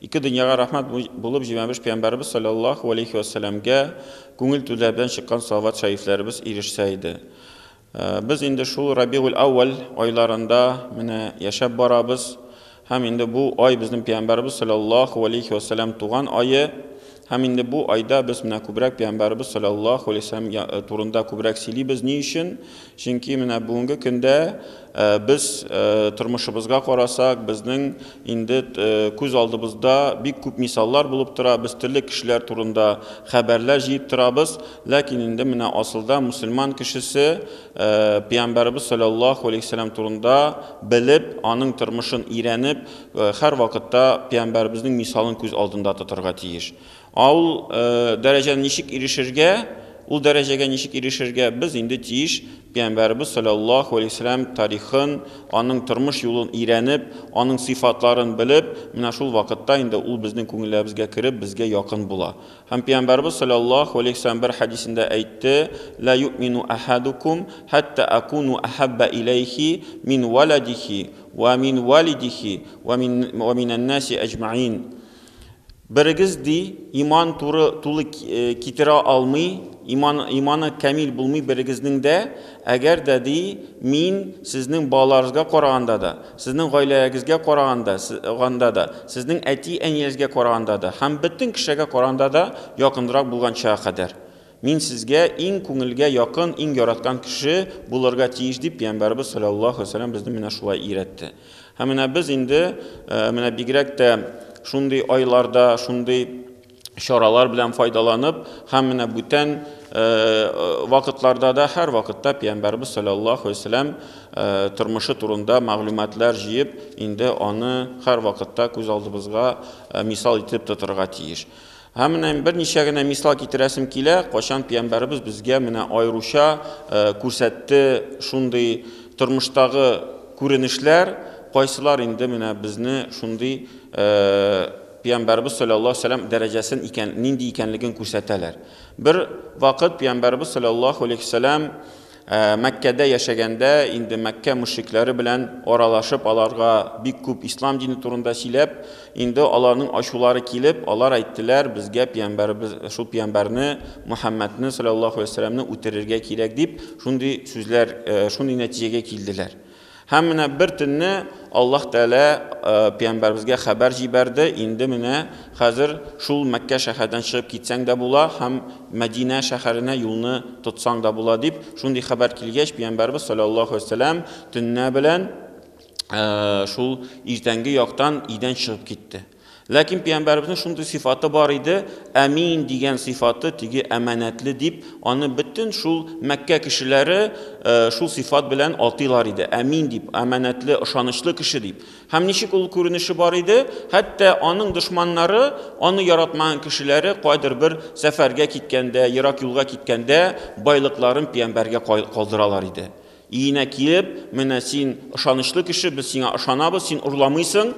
Ике дөньяга рәхмәт булып Җимәбеш пәйгамбәребез салләллаһу галәйһи вә сәләмгә күңел түзләр белән чыккан салават шәрифләребез ирешсә иде. Без инде шул Рабигуль-әүвәл айларында менә яшәп барабыз һәм инде бу ай безнең пәйгамбәребез салләллаһу галәйһи вә сәләм туган ае һәм инде бу айда без менә күбрәк пәйгамбәребез салләллаһу галәйһи вә сәләм турында күбрәк сөйлибез. Ни өчен? Чөнки менә бүгенге көндә без тормышыбызга карасак, безнең инде күз алдыбызда бик күп мисаллар булып тора, без төрле кешеләр турында хәбәрләр җыеп торабыз, ләкин инде менә асылда мөселман кешесе Пәйамбәребез саләллаһу алейһи ва сәлам турында белеп, аның тормышын өйрәнеп, һәрвакытта Пәйамбәребезнең мисалын күз алдында тотарга тиеш. Ә ул дәрәҗәне ничек ирешергә, ул дәрәҗәгә ничек ирешергә без инде тиеш Пәйгамбәребез салләллаһу галәйһи ва сәлләм тарихын, аның тормыш юлын өйрәнеп, аның сыйфатларын белеп, менә шул вакытта инде ул безнең күңелләребезгә кереп, безгә якын була. Һәм Пәйгамбәребез салләллаһу галәйһи ва сәлләм бер хәдисендә әйтте, Лә юэмину әхәдүкүм, хәттә әкуну әхәббә иләйһи мин вәләдихи, вә мин вәлидихи, вә минәннәси әҗмәин. Берегез, ди, иман туры тулы китерә алмый, иман, иманы камил булмый берегезнең дә, әгәр дә, ди, мин сезнең балаларыгызга караганда да, сезнең гаиләгезгә караганда, ганда да, сезнең әти-әниегезгә караганда да һәм бөтен кешегә караганда да якынрак булганчага кадәр. Мин сезгә иң күңелгә якын, иң яраткан кеше булырга тиеш, дип Пәйгамбәребез салләллаһу галәйһи ва сәлләм безне менә шулай өйрәтте. Һәм менә без инде, менә бигрәк тә шундый айларда, шундый чаралар белән файдаланып, һәм менә бүтән вакытларда да һәрвакытта пәйгамбәрбез салләллаһу алейһи вәсәлләм тормышы турында мәгълүматлар җыеп, инде аны һәрвакытта күз алдыбызга мисал итеп тотырга тиеш. Һәм менә берничә генә мисал китерәсем килә, кайчан пиямбәребез безгә менә аеруча күрсәтте шундый тормыштагы күренешләр, кайсылар инде менә безне шундый пиямбәребез салләллаһу алейһи ва сәлләм дәрәҗәсен икән, нинди икәнлеген күрсәтәләр. Бер вакыт пиямбәребез салләллаһу алейһи ва сәлләм Ә Мәккәдә яшәгәндә инде Мәккә мөшрикләре белән аралашып, аларга бик күп ислам дине турында сөйләп, инде аларның ачулары килеп, алар әйттеләр, безгә пиямбәребез, шул пиямбәрне, Мөхәммәдне, салләллаһу галәйһи ва сәлләмне үтерергә кирәк, дип, шундый сүзләр, шундый нәтиҗәгә килделәр. Һәм менә бер төнне Аллаһ Тәгалә пәйгамбәребезгә хәбәр җибәрде, инде менә хәзер шул Мәккә шәһәрдән чыгып китсәң дә була һәм Мәдинә шәһәренә юлны тотсаң да була дип, шундый хәбәр килгәч, пәйгамбәребез салләллаһу алейһи вә сәлләм төнлә белән шул иртәнге яктан өйдән чыгып китте. Ләкин пиямбәребезнең шундый сыйфаты бар иде, әмин дигән сыйфаты, теге әманәтле дип, аны бөтен шул Мәккә кешеләре шул сыйфат белән атыйлар иде, әмин дип, әманәтле, ышанычлы кеше дип. Һәм ничек ул күренеше бар иде, хәтта аның дошманнары, аны яратмаган кешеләре кайдыр бер сәфәргә киткәндә, ерак юлга киткәндә, байлыкларын пиямбәргә калдыралар иде. Өенә килеп, Менә син ышанычлы кеше, без сиңа ышанабыз, син урламыйсың,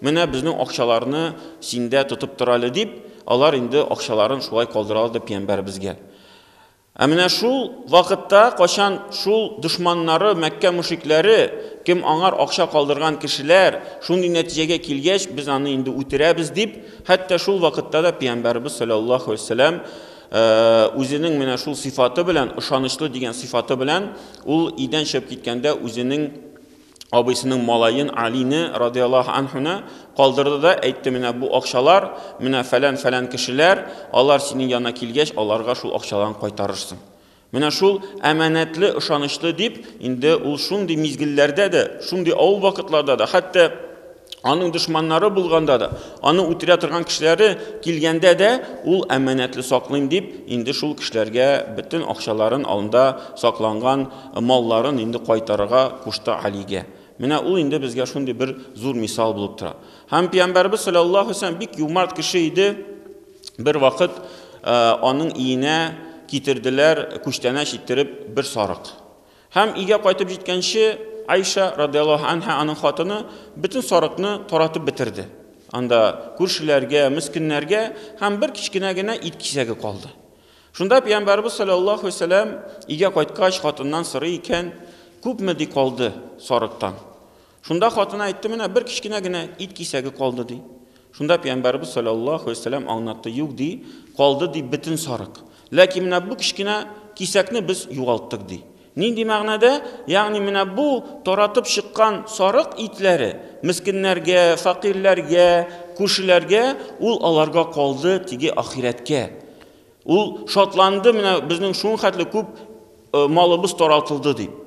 менә безнең акчаларны синдә тотып тор әле, дип, алар инде акчаларын шулай калдыралар пиямбәребезгә. Ә менә шул вакытта, кайчан шул дошманнары, Мәккә мөшрикләре, кем аңар акча калдырган кешеләр, шундый нәтиҗәгә килгәч, без аны инде үтерәбез, дип, хәтта шул вакытта да пиямбәребез салләллаһу галәйһи ва сәлләм Үзенең менә шул сыйфаты белән, ышанычлы дигән сыйфаты белән, ул өйдән чыгып киткәндә үзенең абыйсының малаен Алине радиаллаһу анһуны калдырды да әйтте, менә бу акчалар, менә фәлән-фәлән кешеләр, алар синең янына килгәч, аларга шул акчаларны кайтарырсың. Менә шул әманәтле, ышанычлы дип, инде ул шундый мизгелләрдә дә, шундый авыр вакытларда да, хәтта аның дошманнары булганда да, аны үтерә торган кешеләре килгәндә дә, ул әманәтле саклыйм дип, инде шул кешеләргә бөтен акчаларын, анда сакланган малларын инде кайтарырга кушты Алигә. Менә ул инде безгә шундый бер зур мисал булып тора. Һәм Пәйгамбәрбез саллаллаһу алейһи ва сәлләм бик юмарт кеше иде. Бер вакыт аның иенә китерделәр күчтәнәч иттереп бер сарык. Һәм өйгә кайтып җиткәнче Айша радиаллаһу анһа аның хатыны бөтен сарыкны таратып бетерде. Анда күршеләргә, мескеннәргә һәм бер кечкенә генә ит кисәге калды. Шунда пәйгамбәрбез саллаллаһу вәсәләм өйгә кайткач хатыннан сорый икән, күпме ди калды сарыктан? Шунда хатыны әйтте, менә бер кечкенә генә ит кисәге калды, ди. Шунда пәйгамбәрбез саллаллаһу алейһи вәсәләм аңлатты, юк, ди, калды, ди, бөтен сарык. Ләкин менә бу кечкенә кисәкне без югалттык, ди. Нинди мәгънәдә? Ягъни менә бу таратып чыккан сарык итләре мескеннәргә, факирләргә, күршеләргә, ул аларга калды, теге ахирәткә. Ул шатланды, менә безнең шунхәтле күп э, малыбыз таралтылды дип.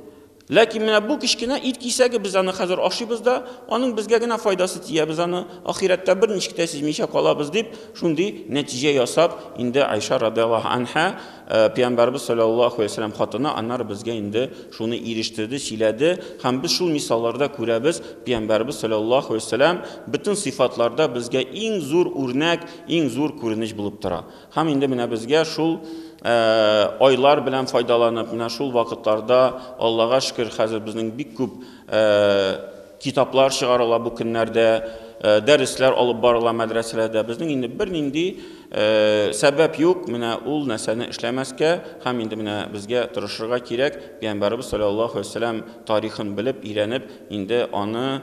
Ләкин менә бу кечкенә ит кисәге без аны хәзер ашыйбыз да, аның безгә генә файдасы тия, без аны ахирәттә бер ничек тә сизмичә калабыз дип, шундый нәтиҗә ясап, инде Айша радиаллаһу анха, э, пәйгамбәрбез саллаллаһу алейһи ва хатыны, аннары безгә инде шуны ирештерде, сөйләде, һәм без шул мисалларда күрәбез, пәйгамбәрбез саллаллаһу алейһи ва бөтен сыйфатларда безгә иң зур үрнәк, иң зур күренеш булып тора. Һәм инде менә безгә шул айлар белән файдаланып, менә шул вакытларда, Аллага шөкер, хәзер безнең бик күп китаплар чыгарыла бу көннәрдә, дәресләр алып барыла мәдрәсәләрдә. Безнең инде бернинди сәбәп юк менә ул нәрсәне эшләмәскә һәм инде менә безгә тырышырга кирәк. Пәйгамбәребез саллаллаһу алейһи вәсәлләм тарихын белеп, өйрәнеп, инде аны